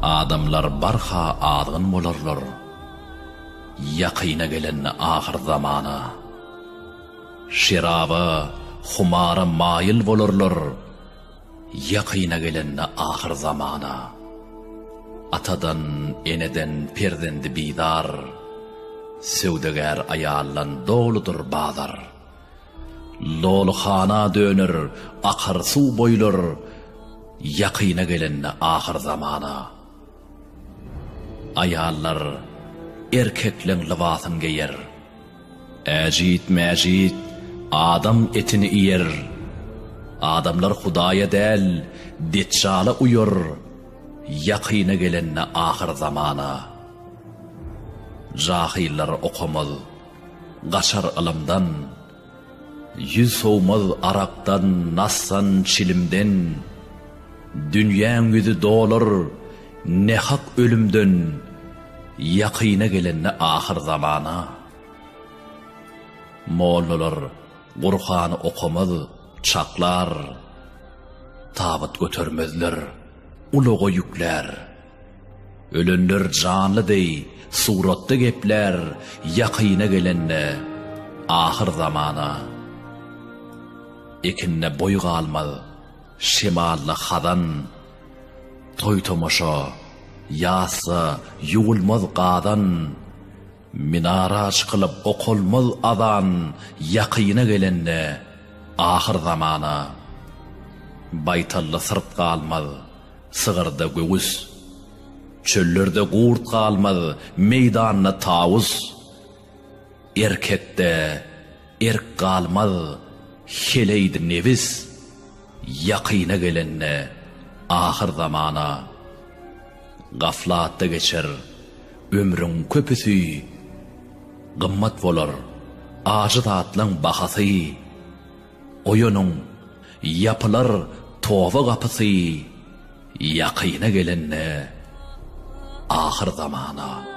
Adamlar barha azgyn bolarlar. Ýakyna gelen ahyr zamana. Şeraba, humara maýyl bolarlar. Ýakyna gelen ahyr zamana. Atadan, eneden perzendi bizar. Söwdagär aýaldan doludyr bazar. Lolhana döner akar suw boýlar ýakyna gelende ahyr zamana. Aýallar erkekleň lybasyn geýer. Äjit mäjit adam etini iýer. Adamlar hudaýa däl detjala uýar ýakyna gelende ahyr zamana. Jahyllar okamaz Gaçar ylymdan, ýüz sowmaz arakdan, nasdan, çilimden, Dünýäň ýüzi dolar nähak ölümden, Ýakyna gelende ahyr zamana. Mollalar Gurhany okamaz, çaklar, Tabyt götermezler, ulaga ýüklär. Ölenler janly deý suratda geplär ýakyna gelende ahyr zamana. Ekinde boý galmaz, şemalda hazan, toý-tomaşa, ýasda ýuwulmaz gazan, minara çykylyp okalmaz azan ýakyna gelende ahyr zamana. Baýtalda syrt galmaz, Sygyrda göwüs. Çöllerde gurt galmaz, meýdanda tawus. Erkekde erk galmaz, heleýdi nebis. Ýakyna gelende ahyr zamana. Gaflatda geçer ömrüň köpüsi. Gymmat bolar ajy zatlaň bahasy. Oýanyň, ýapylar toba gapysy ýakyna gelende ahyr zamana.